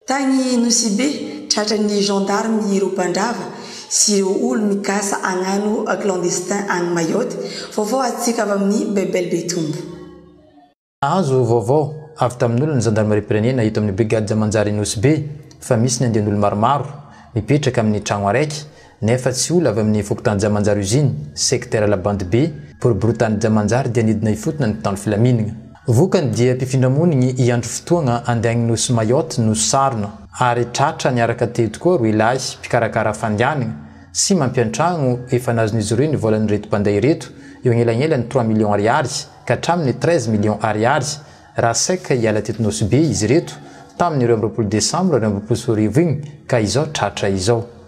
Tany Nosibe, tratran'ny gendarmes ireo mpandrava sy ireo olo-mikasa hagnano clandestin any Mayotte. Vaovao azontsika avy amin'ny Bebel Beitumbo. Nahazo vaovao avy tamin'olona ny zandarimariam-pirenena eto amin'ny brigade manjary Nosibe fa misy ny andian'olo maromaro mipetraka amin'ny tragno araiky Nefa tsy ola avy amin'ny fokontany Jamanjary Usine, secteur Alabandy Be, boriborintany Jamanjary dia nidina ifotona ny mpitandro filaminagna. Vokany dia mpifindra monigny hiandry fotoagna handeha agny Nosy Mayotte no sarona ary tratra niaraka teo tokoa roe lahy mpikarakara fandehanagna sy mampiantragno efa nazon'izy ireo ny volan'ireto mpandeha ireto eo agnelagnelany trois millions ariary ka hatramin'ny treize millions ariary raha sec hiala teto Nosy Be izy ireto tamin'ny roa amby roapolo desambra roa amby roapolo sy roa arivo igny ka izao tratra izao.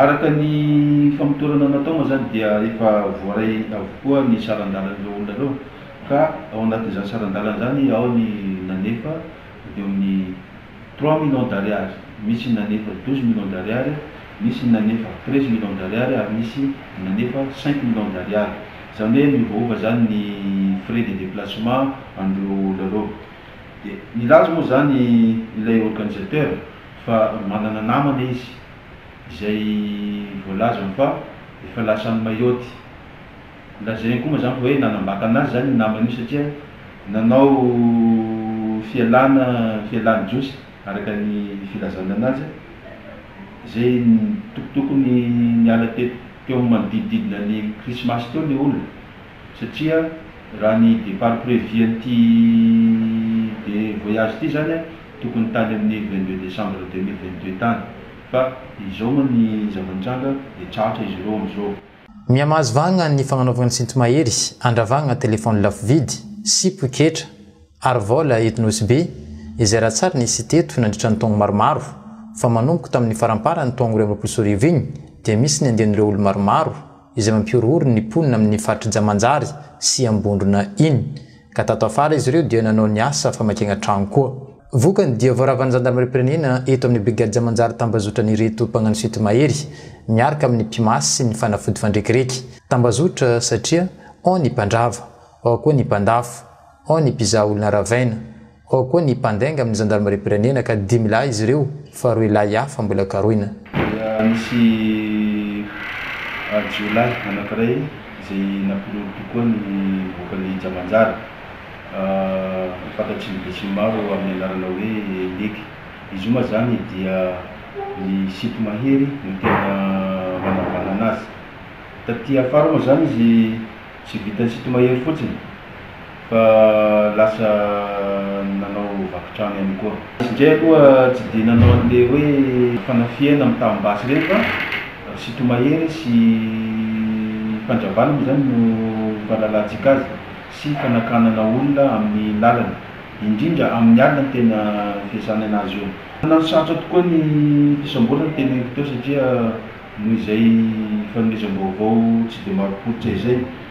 Araka ny famotorana natao moa izany dia efa voaray avokoa ny saran-dalan'ireo olona ireo ka ao anatin'izany saran-dalana izany ao ny nanefa eo amin'ny trois millions d'ariary, misy ny nanefa douze millions d'ariary, nisy ny nanefa treize millions d'ariary ary nisy ny nanefa cinq millions d'ariary. Izany hoe miovaova izany ny frais de déplacement an'ireo olona ireo. Dia nilaza moa izany ilay organisateur fa manana namana izy izay voalaza fa efa lasa any Mayotte. Lazainy koa mazàna fa hoe nanambaka anazy izany io namany io satria nanao fialana, fialan'ny Jiosy araka ny filazany anazy, izay tokotokony niala teo manodidididina ny Krismasy teo ny olona. satria raha ny départ prévu an'ity de voyage ity zany a tokony tany amin'ny vingt deux décembre deux mille vingt deux tany fa izao moa ny zava-nitranga de tratra izy ireo amin'izao. Mihamahazo vahagna ny fagnanaovagna ny sinto-mahery, andravagna telefaony lafo vidy, sy poketra, ary vôla eto Nosy-Be, izay raha tsara nisy teto nandritra ny taogno maromaro, fa manomboka tamin'ny faramparany taogno roa amby roapolo sy roa arivo igny dia misy ny andian'ireo olo maromaro, izay mampihorohoro ny mponina amin'ny faritr'i Jamanjary sy Ambondrona iny, ka tato afara izy ireo dia nanao ny asa famakiana trano koa. Vokany dia voaravan'ny zandarimariam-pirenena eto amin'ny brigady Jamanjary tambazotran'ireto mpagnano site mahery miarka amin'ny mpimasy sy ny fanafody fandrekireky. Tambazotra satria ao ny mpandrava, ao koa ny mpandafo, ao ny mpizaha olona ravaina, Ao koa ny mpandainga amin'ny zandarimariam-pirenena ka dimy lahy izy ireo fa roa lahy hafa mbola karohina. Dia nisy jiolahy anankiray izay nampinono tokoa ny voakan'ny Jamanjara, fantatry ny besinimaro amin'ny anarana hoe Leky. Izy io moa izany dia ny Sinto Mahery no tena nanavanana azy. Taty afara moa izany izy. Tsy vitan'i Sito mahery fotsiny fa lasa nanao vaky trano ihany koa. Izy indray aloha tsy dia nanao an'ilay hoe fanafihana mitam-basy ireny fa ry Sito mahery sy Mpandravalo moa izany no fahalalantsika azy sy fanakanana olona amin'ny lalana, indrindra amin'ny alina no tena fiasany an'azy io. Nanasarotra tokoa ny fisamborana ny teneniko teo satria noho izay fanomezam-baovao tsy dia marim-pototra izay.